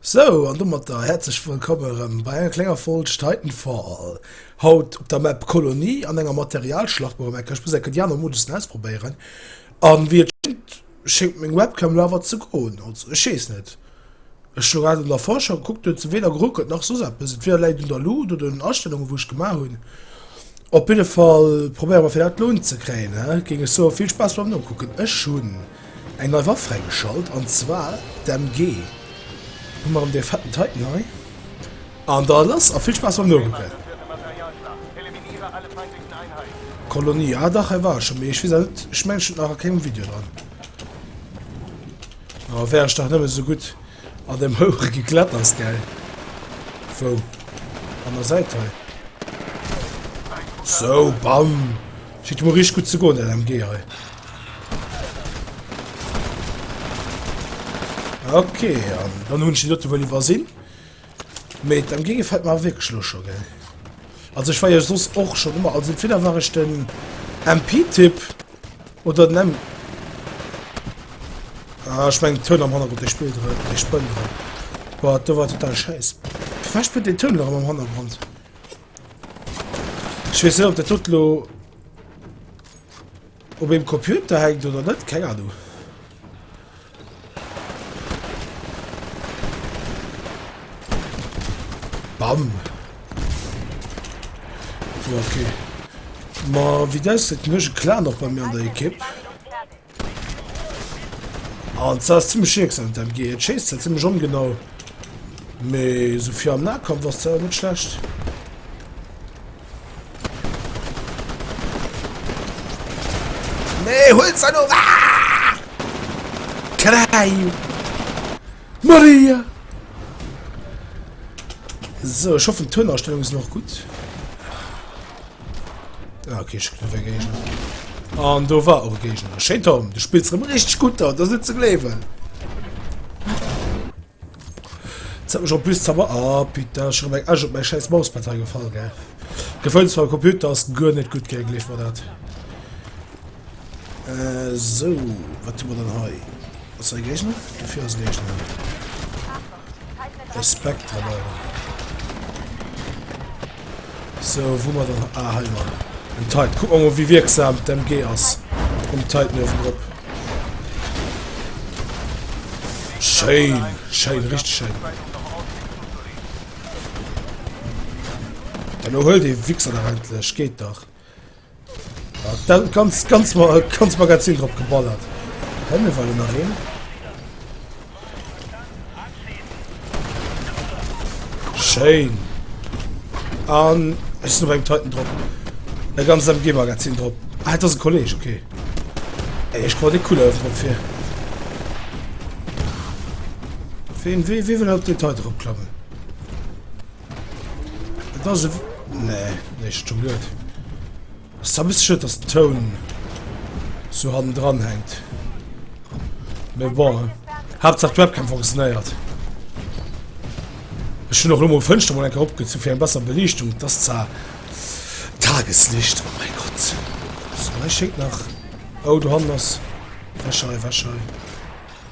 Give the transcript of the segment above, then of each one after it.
Sou, an domatter häerzlech wëllkomm erëm bei enger klenger Folg Titanfall. Haut op der Map Kolonie an enger Materialschlacht mam Ecker. Ech muss enke déi aner Modussen ausprobéieren. An wéi et schéngt, schéngt meng Webcam lo awer ze goen. Also ech weess net. Ech hu grad an der Vorschau gekuckt, do huet se weder geruckelt nach soss eppes. Entweder läit et un der Luut oder un den Astellungen, wou ech gemaach hunn. Op jidde Fall probéiere mer fir dat elo unzekréien, géing ech soen. Vill Spaass beim Nokucken. Ech hunn eng nei Waff fräigeschalt an zwar d'MG. Hu mer erëm dee fetten Titan hei an da lass a vill Spaass beim Nokucken. Kolonie, ah dach hei war ech scho mee ech weess awer net, ech mengen ech hunn et nach a kengem Video dran. Oh, wär ech dach nëmme sou gutt an dem Houche gekletters, gell? Wou? An der Säit hei? So, bam! Schiet mol richteg gutt ze goen, dat MG hei. Okay, an dann hunn ech déi dote wuel iwwersinn. Mee d'Am Gee gefällt mer awer wierklech elo scho gell. Also ech war jo soss och schon ëmmer, also entweder war ech den MP Typ oder den M Ah ech mengen Toun am Hannergrond dee spillt erëm, dee spënnt erëm. Boah do war total schäiss. Firwat spënnt deen Toun erëm am Hannergrond? Ech weess net ob dat dot elo. Op eem Computer hänkt oder net, keng Ahnung. Bam! Bon, okay. Ma wéi dat ausgesäit, hunn ech e Clan och bei mir an der Ekipp. An dat ass zimmlech jieks an dem MG. Et schéisst zwar zimmlech ongenau, mee esou fir am Nahkampf ass dat awer net schlecht. Nee, hol's da noch! Ah! Klein! Maria! So, ich hoffe, die Tonausstellung ist noch gut. Ah, okay, ich bin ein Gegner. Ah, und da war auch ein Gegner. Schön, Tom, du spielst richtig gut da, das ist nicht zu glauben. Zet mech op bis Zauber ah putain ass scho rem eng Esch op mäi schäiss Mauspad hei gefall gell gefëllt zwar Computer ass guer net gutt gei gleef mer dat sou wat hu mer dann hei ass hei Géigner dofir ass Géigner e Spectre leider. So wou mer dann ah, hei jo en Tide. Kuck mer mol wéi wierksam d'MG ass um Tide nuewen drop. Schéin, schéin, richtig schéin. Dann huel de Wichser da endlech, geht dach. Dat ganz ganz mal ganz Magazin drop geballert. Hänn mir wollen nach hin. Schein. An es ist beim Titan drop. Der ganz am G Magazin drop. Ah, das ist ein Kollege, okay. Ey, ich wollte cool auf drauf hier. Wen, wie, wie will auf den Titan drop klappen? Das ist... Nee, nee, schon gut. Das ist ein bisschen schön, dass Ton so an dran hängt. Mais bon, Hauptsache die Webcam funktioniert. Ich schon noch immer Fenster mal abgezogen zu viel besser Belichtung. Das ist zwar Tageslicht. Oh mein Gott. So, ich schicke nach. Oh, du hast das. Wäscherei, Wäscherei.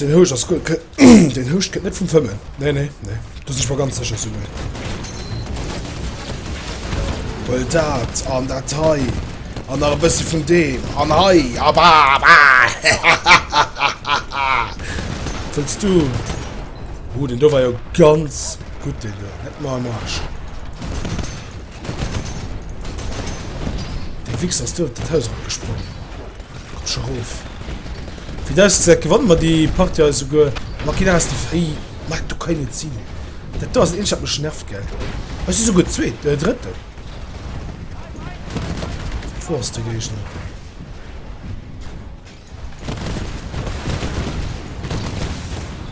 Den Houscht ass gutt. Den Houscht kënnt net vum Fëmmen. Nee, nee, nee. Do sinn ech mer ganz sécher, Summen. Well dat an dat hei an nach e bësse vun deem an hei a ba ba. Wëlls du? Oh, den do war jo ganz gutt, deen do. Net mar am Arsch. De Wichser ass do op dat Haus erop gesprongen. Matcher roof. Wéi et ausgesäit gewanne mer déi Partie eis esouguer. Makina ass de Fréi Marc do kann een et sinn. Dat do ass dat eenzegt wat mech nervt gell. Eis si esouguer zweet äh drëtten. Wou ass de Géigner?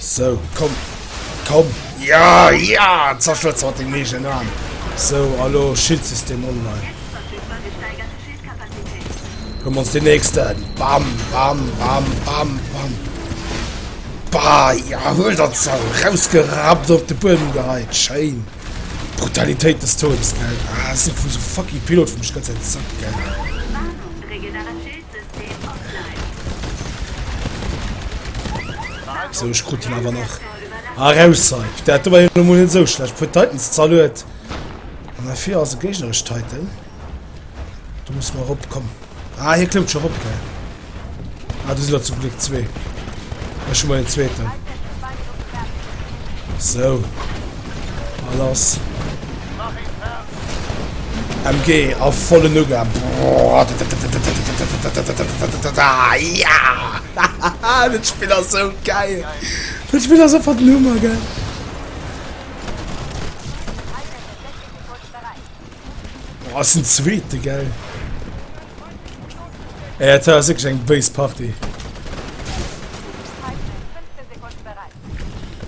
Sou, komm, komm! Ja, ja! Zerstërt se mat dengem eegenen Aarm! Sou, a lo, Schildsystem online! Huelen mer ons deen nächsten! Bam, bam, bam, bam, bam! Ba, ja, huel der d'Sau! Rausgerappt, op de Buedem geheit! Schéin! Brutalitéit des Todes, gell? Ah, sou, sou fucking Pilot vum Schëtz, en Sack, gell? So, ech krut den awer nach erausheit. Dat do war jo mol net sou schlecht. Puer Titans zerluet. An afir ass e géignerech Titan. Du muss mal opkommen. Ah, hier klemmt schon op, gell. Ah, du sinn zum Glück zwee. Ech schon mal den zweeten. So. Alles. MG a vollen Ugang. Ja! Dat Spill ass sou geil! Dat Spill ass einfach den Hummer, gell? Oh, ass den Zweete, gell? Ey, dat war wirklich eng béis Party.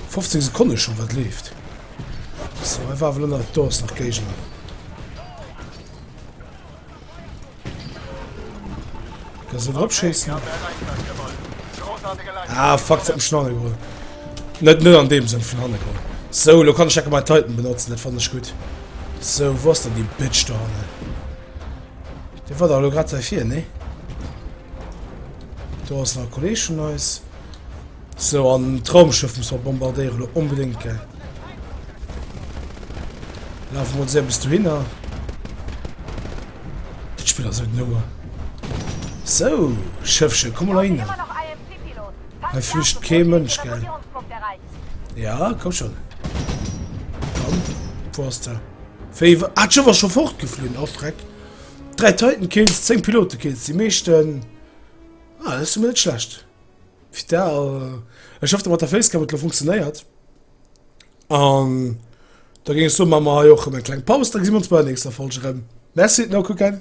15 Sekunde schon, wat leeft? So, einfach nur nach Durst nach Gegner. Kannst du drauf schießen? Ah, fuck, zum Schnarre geholt. Nicht nur an dem Sinn von Hanne geholt. So, du kannst ich mal Titan benutzen, das fand ich gut. So, wo ist denn die Bitch da, ne? Der war da gerade hier, ne? Du hast noch Kollegen von uns. So an d'Raumschëff muss mer bombardéieren lo onbedéngt gell. Laf mol se bis du hinner. Dat Spiel ass net noer. So Schëffche komm mal hin. Hei flücht kee Mënsch gell. Ja komm schon. Komm, wo ass der? Féiwer ah, war schon fortgeflühen, oh Schreck. Drei Titan Kills, 10 Pilote Kills, die meeschten. Ah, dat ass jo mol net schlecht. Fir da, äh, ech hoff, der Matterface Cam et lo funktionéiert. An da géing ech soen, maache mer hei och erëm eng kleng Paus, da gesi mer ons bei der nächster Folge erëm. Merci, no kucken!